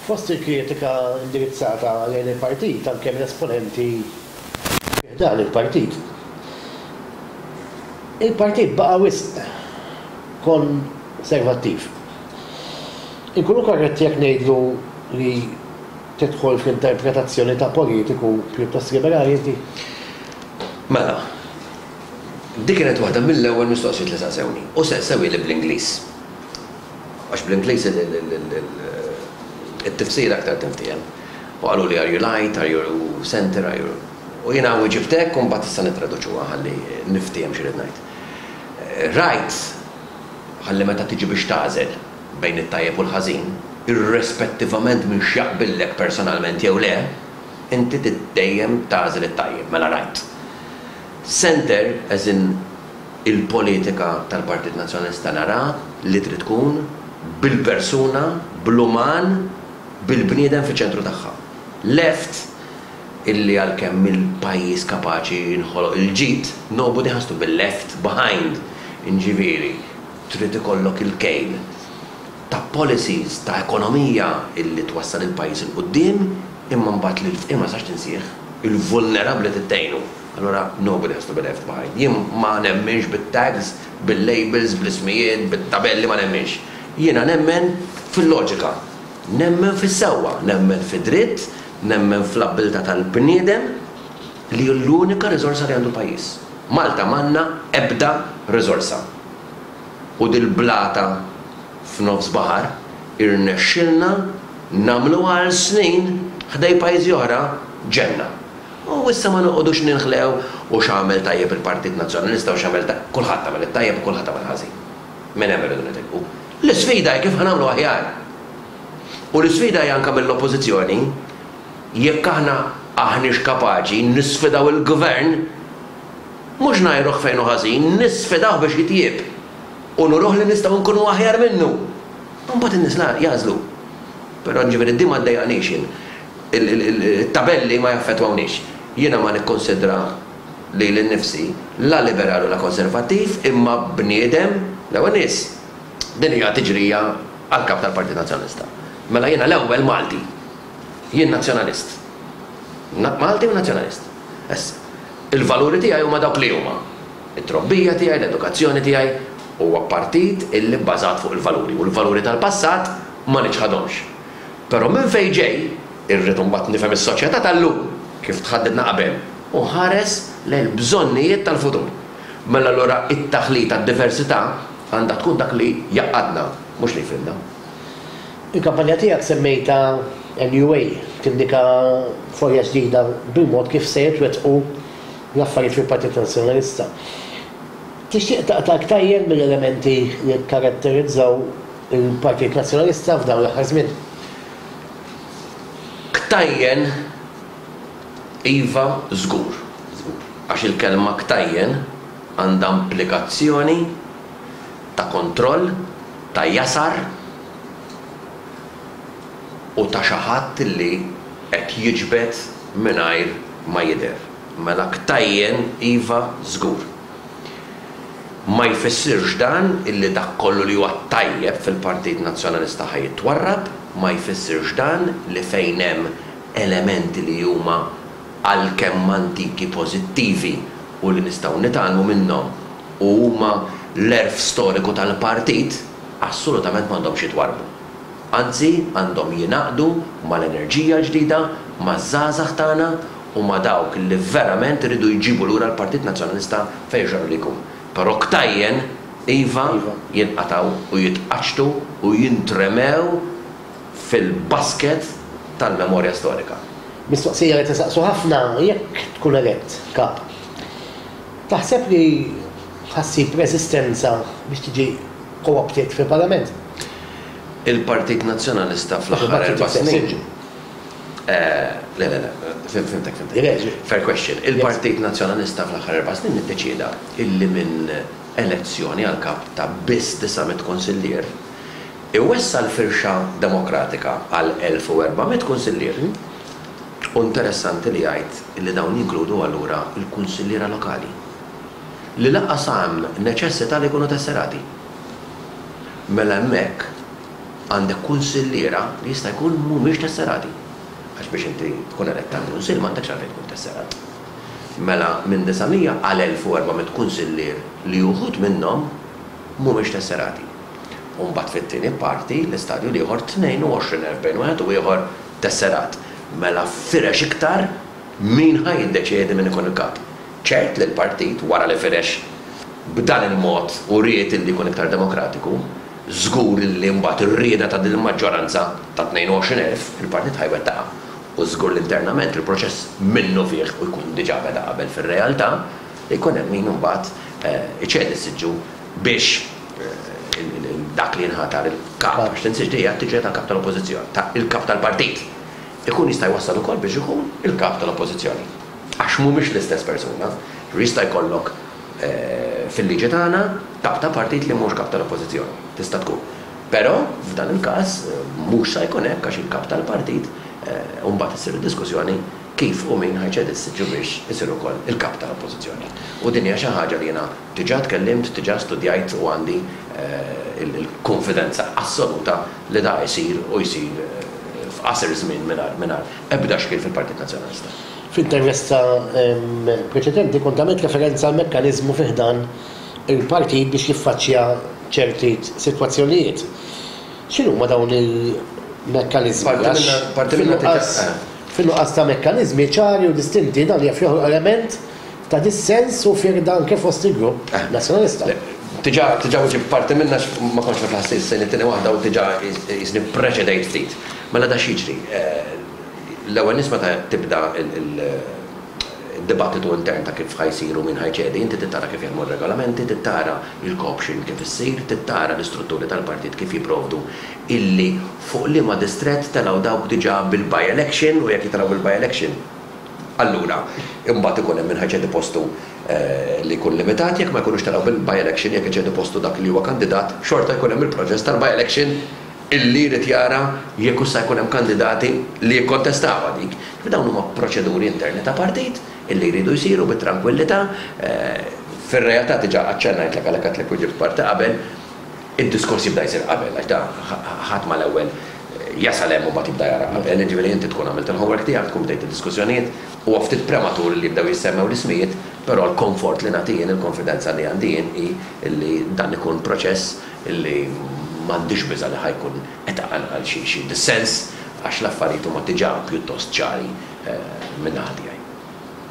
Fost il-kritika indirizzata lejn il-partit anke minn esponenti fi ħdan il-partit, il-partit baqa' wisq konservattiv. Inkunu korretti jekk ngħidlu li tidħol fl-interpretazzjoni ta' politiku pjuttost liberali inti? Mela, dik kienet waħda mill-ewwel mistoqsijiet li saqsewni u saqsewhieli bl-Ingliż. Għax bl-Ingliż it-tifsira aktar tinftiehem. U qaluli are you light, are you center, are you. U jiena wiġibt hekk u mbagħad tista' nittraduċuha ħalli niftiehem xi rrid ngħid. Right ħalli meta tiġi biex tagħżel bejn it-tajjeb u l-ħażin, irrespettivament minn x'jaqbillek personalment jew le, inti trid dejjem tagħżel it-tajjeb, mela right. Center as in Il-politika tal-Partit Nazzjonalista nara li trid tkun bil-persuna, bl-uman, bil-bniedem fiċ-ċentru tagħha. Left, illi għalkemm mill-pajjiż kapaċi jinħoloq il-ġid, nobody has to be left behind, inġifieri, trid ikollok il-kejl ta' policies, ta' ekonomija illi twassal il-pajjiż 'il quddiem, imma mbagħad lil fqir ma tistax tinsih, il-vulnerabbli trid tgħinu. Allura nobody has to be left behind. Jien ma nemminx bit-tags, bil-labels, bl-ismijiet, bit-tabelli, ma nemminx. Jiena nemmen fil-loġika. Nemmen fis-sewwa, nemmen fid-dritt, nemmen fl-abbiltà tal-bniedem li hu l-unika riżorsa li għandu l-pajjiż. Malta m'għandna ebda riżorsa. U dil-blata f'nofs baħar irnexxielna nagħmluha għal snin ħdej pajjiżi oħra ġenna. U issa ma noqogħdux ninħlew u x'għamel tajjeb il-Partit Nazzjonalista u x'għamel ta', kulħadd għamel it-tajjeb u kulħadd għamel ħażin. Minn hemm irridu nitilqu. L-isfida hi kif ħa nagħmlu aħjar. U l-isfida hi anke mill-Oppożizzjoni jekk aħna aħniex kapaċi nisfidaw il-Gvern, mhux ngħajruh fejn hu ħażin, nisfidawh biex jitjieb u nuruh li nistgħu nkunu aħjar minnu. Imbagħad in-nies jagħżlu. Però jiġifieri din ma ddejjaqnix jien. It-tabelli ma jaffettwawniex. Jiena ma nikkunsidra lili nnifsi la liberal u la konservattiv imma bniedem l-ewwel nies. Din hija tiġrija għall-Kap tal-Partit Nazzjonalista. Mela jiena l-ewwel Malti. Jien Nazzjonalist. Malti u Nazzjonalist. Issa, il-valuri tiegħi huma dawk li huma. It-trobbija tiegħi, l-edukazzjoni tiegħi. Huwa partit illi bbażat fuq il-valuri u l-valuri tal-passat ma niċħadhomx. Però minn fejn ġej? Irrid imbagħad nifhem is-soċjetà tal-lum kif tħaddidna qabel u nħares lejn il-bżonnijiet tal-futur. Mela allura t-taħlit għad-diversità għandha tkun dak li jgħaqqadna, mhux li jfirqna. Il-kampanja tiegħek semmejtha NUA tindika folja ġdida bil-mod kif se jitwettqu l-affarijiet fil-Partit Nazzjonalista. Tixtieq taqta' iktajjen mill-elementi li kkaratterizzaw Il-Partit Nazzjonalista f'dawn l-aħħar żmien ktajjen iva żgur, żgur, għax il-kelma ktajjen għandha implikazzjoni ta' kontroll, ta' jasar u ta' xi ħadd li qed jiġbed mingħajr ma jidher. Mela ktajjen iva żgur. Ma jfissirx dan illi dak kollu li huwa tajjeb fil-Partit Nazzjonalista ħa jitwarrab, ma jfissirx dan li fejn hemm elementi li huma għalkemm antiki pożittivi u li nistgħu nitgħallmu minnhom u huma l-għerf storiku tal-Partit, assolutament m'għandhomx jitwarrbu. Anzi, għandhom jingħaqdu mal-enerġija l-ġdida, maż-żgħażagħ tagħna u ma' dawk li verament iridu jġibu lura l-Partit Nazzjonalista fejn x'għamel li jkun. Però ktajjen, iva, jinqatgħu u jitqaċċtu u jintremew fil-basket tal-memorja storika. Mistoqsija li tisaqsu ħafna, Jekk tkun elett Kap, taħseb li ħa ssib reżistenza biex tiġi co-opted fil-Parlament? il-Partit Nazzjonalista fl-aħħar erba' snin. Le, le, le, fimtek, fimtek. Fair question. Il-Partit Nazzjonalista fl-aħħar erba' snin iddeċieda illi minn elezzjoni għal kap ta' biss 900 kunsillier, iwessa' l-firxa demokratika għal 1,400 kunsillier. U interessanti li jgħid illi dawn jinkludu allura l-kunsilliera lokali, li lanqas hemm neċessità li jkunu tesserati. mela hemmhekk għandek kunsilliera li jista' jkun mhumiex tesserati. Għax biex inti tkun elett għal kunsill m'għandekx għalfejn tkun tesserat. Mela minn 900 għal 1,400 kunsillier li uħud minnhom mhumiex tesserati. U mbagħad fit-tieni parti, l-istadju l-ieħor, 22,000 bejn wieħed u ieħor tesserat. Mela firex iktar. Min ħa jiddeċiedi min ikun il-Kap? Ċert li l-Partit, wara li firex b'dan il-mod u ried illi jkun iktar demokratiku, żgur illi mbagħad ir-rieda ta' din il-maġġoranza ta' 22 elf, il-Partit ħa jwettaqha. U żgur li internament il-proċess minnufih u jkun diġà beda qabel fir-realtà, jkun hemm min imbagħad iċedi s-siġġu biex dak li jinħatar il-Kap, għax l-insiġġ dejja tiġi tal-Kap tal-Oppożizzjoni, ta' il-Kap tal-Partit. Ikun jista' jwassal ukoll biex ikun il-Kap tal-Oppożizzjoni. Għax mhumiex l-istess persuna. Jista' jkollok, fil-liġi tagħna, Kap ta' Partit li mhux Kap tal-Oppożizzjoni. Tista' tkun. Però, f'dan il-każ, mhux sa jkun hekk għax il-Kap tal-Partit, u mbagħad issir id-diskussjoni kif u min ħa jċedi s-siġġu biex isir ukoll il-Kap tal-Oppożizzjoni. U din hija xi ħaġa li jiena, Diġà tkellimt, diġà studjajt u għandi l-kunfidenza assoluta li da jsir u jsir f'qasir żmien mingħajr ebda xkiel fil-Partit Nazzjonalista. Fl-intervista preċedenti kont għamilt referenza għal mekkaniżmu fi ħdan il-Partit biex jiffaċċja ċerti sitwazzjonijiet. X'inhuma dawn il-mekkaniżmi għax fin-nuqqas ta' mekkaniżmi ċari u distinti dan jaf joħloq element ta' dissens u firda anke fost il-grupp Nazzjonalista. Diġà, diġà wiġibt parti minnha għax ma kontx naf lanqas li ssejni t-tieni waħda u diġà qisni ppreċedejt ftit. Mela da x'jiġri? L-ewwel nies meta tibda d-dibattitu intern ta' kif ħa jsir u min ħa jċedi, inti trid tara kif jaħdmu r-regolamenti, trid tara l-co-option kif issir, trid tara l-istrutturi tal-partit kif jipprovdu illi fuq liema distrett telgħu dawk diġà bil-by-election u jekk jitilgħu bil-by-election, Allura, imbagħad ikun hemm min ħa jċedi postu li jkun limitat, jekk ma jkunux telgħu bil-by-election, jekk iċedi postu dak li huwa kandidat, xorta jkun hemm il-proċess tal-by-election illi jrid jara jekk hux sa jkun hemm kandidati li jikkontestawha dik. Ġifieri dawn huma proċeduri interni ta' partit illi jridu jsiru bit-trankwillità. Fir-realtà diġà aċċennajtlek għalhekk għedtlek u ġibt parti qabel. Id-diskors jibda jsir qabel, għax da ħadd ma l-ewwel jasal hemm u mbagħad jibda jara qabel, jiġifieri inti tkun għamilt il-homework tiegħek, tkun bdejt id-diskussjonijiet, huwa ftit prematur li jibdew jissemmew l-ismijiet, però l-konfort li nagħti jien, il-konfidenza li għandi jien hi li dan ikun proċess li m'għandix biża' li ħa jkun qed iqanqal xi dissens għax l-affarijiet huma diġà pjuttost ċari min-naħa tiegħi.